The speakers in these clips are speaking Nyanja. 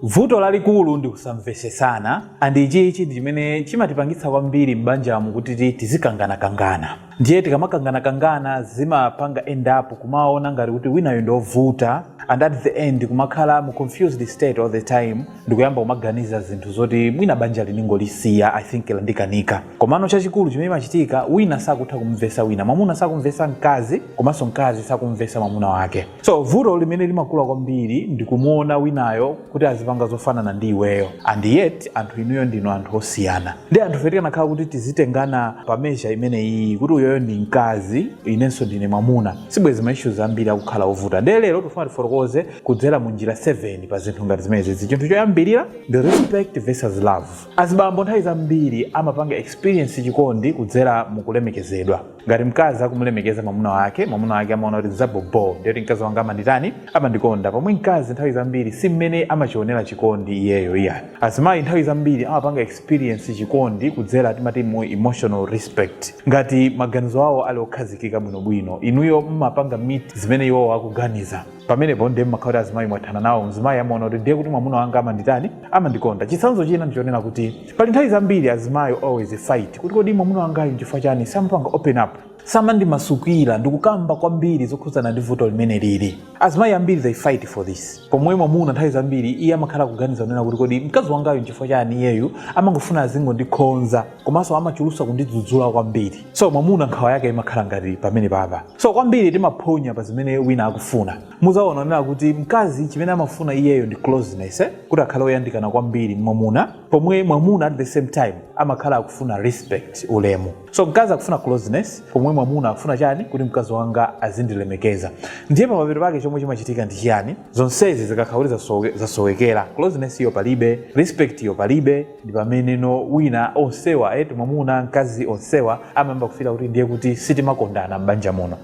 Vuto lalikulu ndi kusamvesesana and ichichi ndichimene chimatipangitsa kwambiri m'banjamu kuti tizikangana kangana. Ndiye tikamakangana kangana zimapanga end up kumaona ngati kuti winayo ndi ovuta and at the end kumakhala mu confused state all the time ndikuyamba kumaganiza zinthu zoti mwina banjali ndingolisiya I think landikanika. Komano chachikulu chimene chimachitika wina sakutha kumumvesa wina. Mwamuna sakumvesa mkazi komanso mkazi sakumumvesa mwamuna wake. so vuto limene limakula kwambiri ndikumuona winayo kuti azipanga zofanana ndi iweyo and yet anthu inuyo ndinu anthu osiyana ndiye anthufe tikanakhala kuti tizitengana pa measure imene iyi kuti uyoyo ndi mkazi inenso ndine mwamuna sibwezi ma issues ambiri akukhala ovuta ndiye lero tikufuna tifotokoze kudzera mu njira 7 pa zinthu ngati zimenezi chinthu choyambirira ndi respect versus love azibambo nthawi zambiri amapanga experience chikondi kudzera mu kulemekezedwa ngati mkazi akumulemekeza mwamuna wake mwamuna wake amaona kuti zaboboo ndiye kuti mkazi wanga amanditani amandikonda pomwe mkazi nthawi zambiri si mmene amachionera chikondi iyeyo iyayi azimayi nthawi zambiri amapanga experience chikondi kudzera timati mu emotional respect ngati maganizo awo ali okhazikika bwinobwino inuyo mmapanga meet zimene iwowo akuganiza pamenepo ndiye mmakhala kuti azimayi mwathana nawo mzimayi amaona kuti ndiye kuti mwamuna wanga amanditani amandikonda chitsanzo china ndichonena kuti pali nthawi zambiri azimayi always fight kuti kodi mwamuna wangayo nchifukwa chani samapanga open up samandimasukira ndikukamba kwambiri zokhudzana ndi vuto limene lili azimayi ambiri they fight for this pomwe mwamuna nthawi zambiri iye amakhala kuganiza kunena kuti kodi mkazi wangayo nchifukwa chani iyeyu amangofuna azingondikhonza komanso amachulusa kundidzudzula kwambiri so mwamuna nkhawa yake imakhala ngati pamene papa so kwambiri timaphonya pa zimene wina akufuna muzaona kunena kuti mkazi chimene amafuna iyeyo ndi closeness eh? kuti akhale oyandikana kwambiri ndi mwamuna pomwe mwamuna at the same time amakhala akufuna respect ulemu so mkazi akufuna closeness pomwe mwamuna akufuna chani kuti mkazi wanga azindilemekeza ndiye pamapeto pake chomwe chimachitika ndi chiyani zonsezi zikakhala kuti zasowekera closeness iyo palibe respect iyo palibe ndi pameneno wina onsewa eti mwamuna mkazi onsewa amayamba kufira kuti ndiye kuti sitimakondana m'banja muno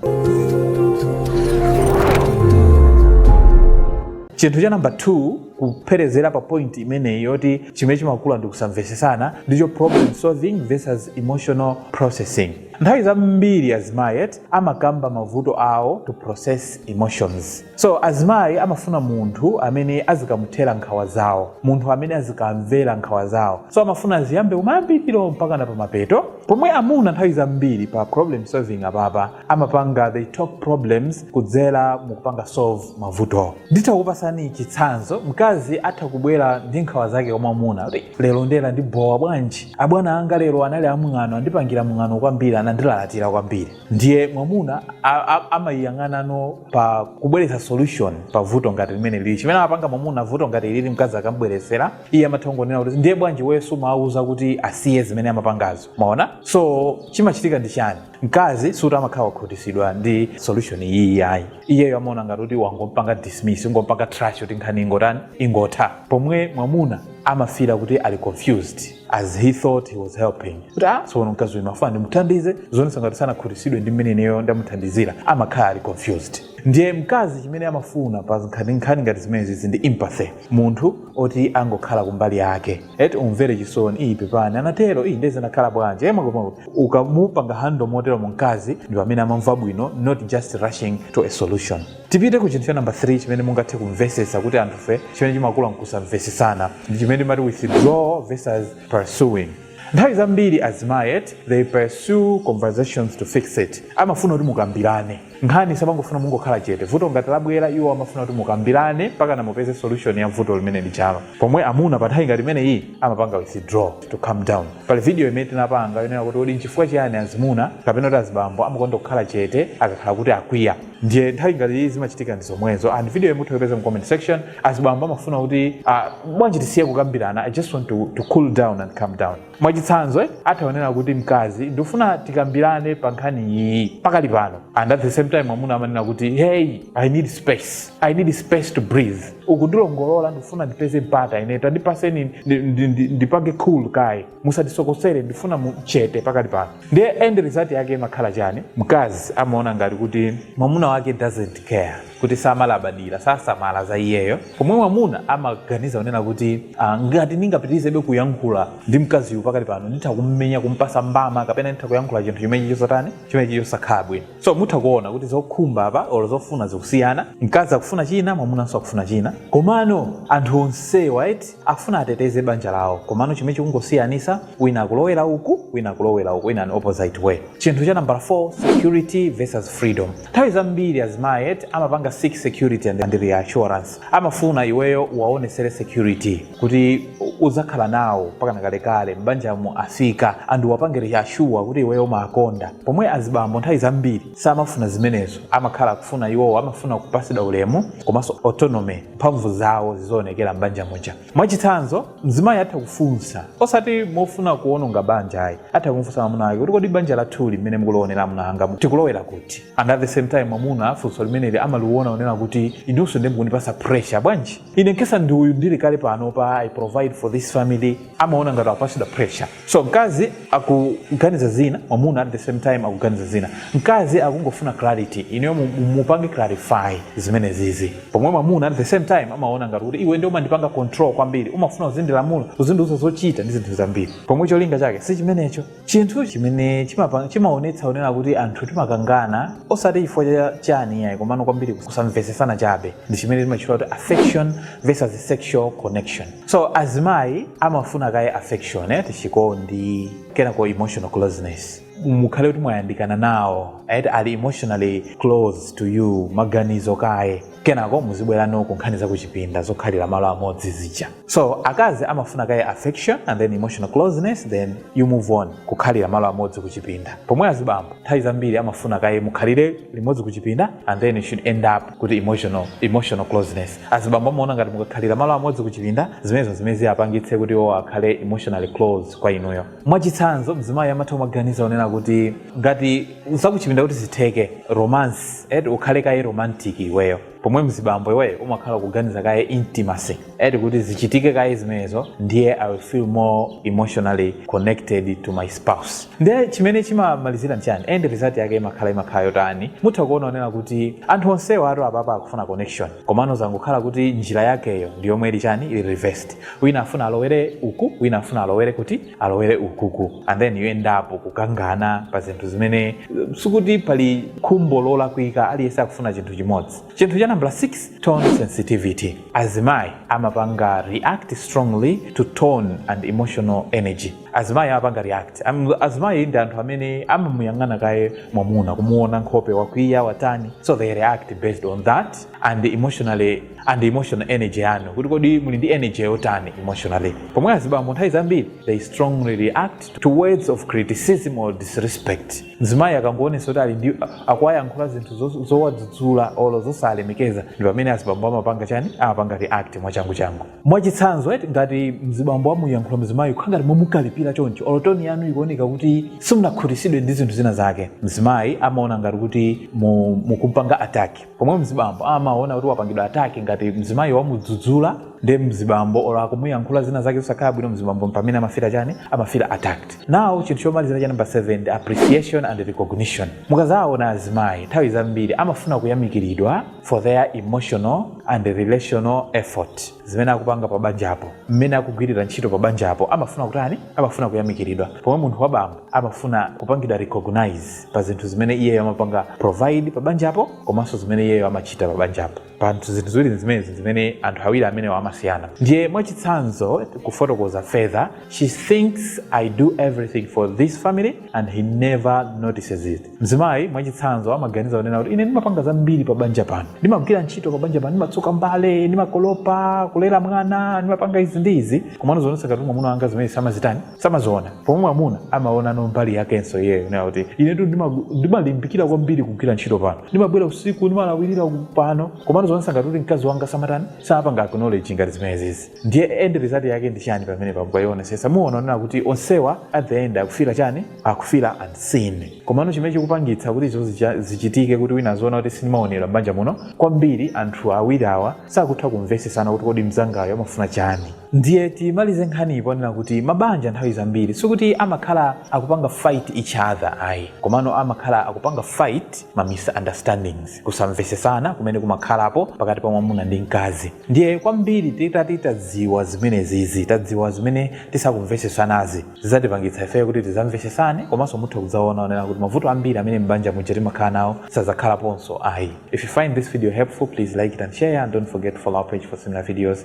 chinthu cha namba 2 kupherezera pa point imeneyi yoti chimene chimakula ndi kusamvesesana ndicho problem solving versus emotional processing nthawi zambiri azimayi eti amakamba mavuto awo to process emotions So azimayi amafuna munthu amene azikamuthera nkhawa zawo, munthu amene azikamvera nkhawa zawo. So amafuna aziyambe kumayambiriro mpaka na pamapeto. Pomwe amuna nthawi zambiri pa problem solving apapa amapanga they talk problems kudzera mukupanga solve mavuto. Nditha kupasani chitsanzo, mkazi atha kubwera ndi nkhawa zake kwa mwamuna kuti lero ndiye landibowa bwanji, abwana anga lero anali amwano andipangira mwano kwambiri anandilalatira kwambiri. ndiye mwamuna a- a- amayiyang'anano pa kubweretsa solution pa vuto ngati limeneli ili chimene amapanga mwamuna vuto ngati ilili mkazi akambweretsera iye amatha kungonena kuti ndiye bwanji osumawauza kuti asiye zimene amapangazo maona so chimachitika ndi chani mkazi sikuti amakhala wakhutisidwa ndi solution iyi yayi iyeyo amaona ngati kuti wangompanga dismiss wangompanga trash kuti nkhani ingotani ingotha pomwe mwamuna amafira kuti ali confused as he thought he was helping kuti ah tsono mkazi uyu amafuna ndimuthandize zonsezi ngati sanakhutisidwe ndi mmene ineyo ndamuthandizira amakhala ali confused ndiye mkazi chimene amafuna pa nkhani ngati zimenezi izi ndi empathy munthu oti angokhala kumbali yake eti umumvere chisoni iyi pepani anatero iyi nde zinakhala bwanji e makomako ukamupanga handle moteromo mkazi ndi pamene amamva bwino not just rushing to a solution tipite ku chinthu cha number 3 chimene mungathe kumvesetsa kuti anthufe chimene chimakula m'kusamvesetsana ndi chimene timati withdraw versus pursuing nthawi zambiri azimayi eti they pursue conversations to fix it amafuna kuti mukambirane nkhani samangofuna mungokhala chete vuto ngati labwera iwo amafuna kuti mukambirane mpaka mupeze solution ya vuto limene lilipolo pomwe amuna pa nthawi ngati imene iyi amapanga withdraw to calm down pali video imene tinapanga yonena kuti kodi nchifukwa chiyani azimuna kapena kuti azibambo amakonda kukhala chete akakhala kuti akwiya ndiye nthawi ngati iyi zimachitikazi ndi zomwezo and videoyi mutha kuipeza mu comment section azibambo amafuna kuti uh, bwanji tisiye kukambirana i just want to, to cool down and calm down mwachitsanzo eh, atha kunena kuti mkazi ndifuna tikambirane pa nkhani iyi pakali pano and at the same time mwamuna amanena kuti hey i need space i need space to breathe ukundilongolola ndifuna ndipeze mpata ine tandipaseni ndi- ndi- ndi- ndipange cool kaye musandisokosere ndifuna mukhale chete pakali pano ndiye end result yake imakhala chani mkazi amaona ngati kuti mwamuna wake doesn't care kuti samalabadira sasamala za iyeyo pomwe mwamuna amaganiza kunena kuti ah, ngati ndingapitirizebe kuyankhula ndi mkaziyu pakali pano nditha kummenya kumpasa mbama kapena nditha kuyankhula chinthu chimene chili chosatani chimene chili chosakhala bwino so mutha kuona kuti zokhumba apa olo zofuna zikusiyana mkazi akufuna china mwamunanso akufuna china komano anthu onsewa eti Akufuna ateteze banja lawo komano chimene chikungosiyanisa wina akulowela uku wina akulowela uku in an opposite way. Chinthu cha nambala 4 security vs freedom nthawi zambiri azimayi eti amapanga seek security and reassurance amafuna iweyo uwawonesele security kuti udzakhala nawo mpakana kalekale m'banjamu as in and uwapange reassure kuti iweyo umawakonda pomwe azibambo nthawi zambiri samafuna zimenezo amakhala akufuna iwowo amafuna kupasidwa ulemu komaso autonomy mphamvu zawo zizioonekera m'banja muja mwachitsanzo mzimayi atha kufunsa osati mofuna kuononga banja ayi atha kumufunsa mwamuna wake kuti kodi banja lathuli mmene mukulionera amuna anga mu- tikulowera kuti and at the same time mwamuna funso limeneli amaliona kunena kuti inunso nde mukundipasa pressure bwanji ine nkesa ndine uyu ndili kale pano pa i provide for this family amaona ngati akupatsidwa pressure so mkazi akuganiza zina mwamuna at the same time akuganiza zina mkazi akungofuna clarity ineyo mu- mu- mupange clarify zimene zizi pomwe mwamuna at the same time amaona ngati kuti iwe ndio umandipanga control kwambiri umafuna uzindilamula uzindiuza zochita ndi zinthu zambiri pomwe cholinga chake si chimenecho chinthu chimene chimapa- chimaonetsa onena kuti anthu timakangana osati chifukwa cha chani yayi komano kwambiri kusamvetsesana chabe ndi chimene timatchula kuti affection versus sexual connection so azimayi amafuna kaye affection eti chikondi kenako emotional closeness mukhale kuti mwayandikana nawo eti ali emotionally close to you maganizo kaye kenako muzibwera no ku nkhani zakuchipinda zokhalira malo amodzi zija so akazi amafuna kaye affection and then emotional closeness then you move on kukhalira malo amodzi kuchipinda pomwe azibambo nthawi zambiri amafuna kaye mukhalire limodzi kuchipinda and then you should end up kuti emotional emotional closeness azibambo amaona ngati mukakhalira malo amodzi kuchipinda zimenezo zimene ziyapangitse kuti iwo akhale emotionally close kwa inuyo mwachitsanzo mzimayi amatha kumaganiza onena kuti ngati zakuchipinda kuti zitheke romance eti ukhale kaye romantic iweyo pomwe mzibambo iweyo umakhala kuganiza kaye intimacy eti kuti zichitike kaye zimenezo ndiye i will feel more emotionally connected to my spouse ndiye chimene chimamalizira nchani end result yake imakhala imakhala yotani mutha kuona onena kuti anthu onsewa a two apapa akufuna connection komano zangokhala kuti njira yakeyo ndi yomwe ili chani ili reversed wina afuna alowere uku wina afuna alowere kuti alowere ukuku and then you end up kukangana pa zinthu zimene sikuti pali khumbo lolakwika aliyense akufuna chinthu chimodzi chinthu cha number 6 tone sensitivity Azimayi amapanga react strongly to tone and emotional energy. Azimayi amapanga react. Am- Azimayi ndi anthu amene amamuyang'ana kaye mwamuna kumuona nkhope wakwiya watani so they react based on that and emotionally and emotional energy yanu kuti kodi muli ndi energy yotani emotionally. Pomwe azibambo nthawi zambiri they strongly react to words of criticism or disrespect. mzimayi akangoonesa kuti ali ndi akuwayankhula zinthu zo- zowadzudzula olo zosalemekeza ndi pamene azibambo amapanga chani amapanga react mwachanguchangu mwachitsanzo eti ngati mzibambo wamuyankhula mzimayi kukhala ngati momukalipira choncho olo tone yanu ikuoneka kuti simunakhutisidwe ndi zinthu zina zake mzimayi amaona ngati kuti mu- mukumpanga attack pomwe mzibambo amaona kuti wapangidwa attack ngati mzimayi wamudzudzula ndi mzibambo or akumuyankhula zina zake zosakhala bwino mzibambo pamene amafira chani amafira attacked now chinthu chomalizira cha number 7 appreciation and recognition mukazaona azimayi nthawi zambiri amafuna kuyamikiridwa for their emotional and relational effort zimene akupanga pa banjapo mmene akugwirira ntchito pa banjapo amafuna kutani amafuna kuyamikiridwa pomwe munthu wabambo amafuna kupangidwa recognize pa zinthu zimene iyeyo amapanga provide pa banjapo komanso zimene iyeyo amachita pa banjapo pa anthu zinthu ziwiri zimenezi zimene anthu awiri amenewa amasiyana ndiye mwachitsanzo kufotokoza further she thinks i do everything for this family and he never notices it mzimayi mwachitsanzo amaganiza kunena kuti ine ndimapanga zambiri pa banja pano ndimagwira ntchito pa banja pano ndimatsuka mbale ndimakolopa kulera mwana ndimapanga izi ndi izi komano zimaonetsa ngati mwamuna wanga zimene samazitani samaziona pomwe mwamuna amaonano mbali yakenso iyeyo nayo kuti inetu ndima- ndimalimbikira kwambiri kugwira ntchito pano ndimabwera usiku ndimalawirira ku- pano komano zonse ngati kuti mkazi wanga samatani sapanga acknowledge ngati zimenezizi ndiye end result yake ndi chani pamene pamukayionesesa muona onena kuti onsewa at the end akufira chani akufira unseen komano chimene chikupangitsa kuti izo zicha- zichitike kuti wina aziona kuti sindimaonedwa m'banja muno kwambiri anthu awiri awa sakutha kumvesesana kuti kodi mzangayo amafuna chani Ndiye timalize nkhaniyi ponena kuti mabanja nthawi zambiri sikuti amakhala akupanga fight each other ayi, komano amakhala akupanga fight ma misunderstandings, kusamvesesana kumene kumakhalapo pakati pa mwamuna ndi mkazi. Ndiye kwambiri titati tadziwa zimenezizi, tadziwa zimene tisakumvesesanazi, zizatipangitsa ifeyo kuti tizamvesesane komanso mutha kudzaona onena kuti mavuto ambiri amene m'banja muja timakhala nawo sazakhalaponso ayi. If you find this video helpful, please like it and share and don't forget to follow our page for similar videos.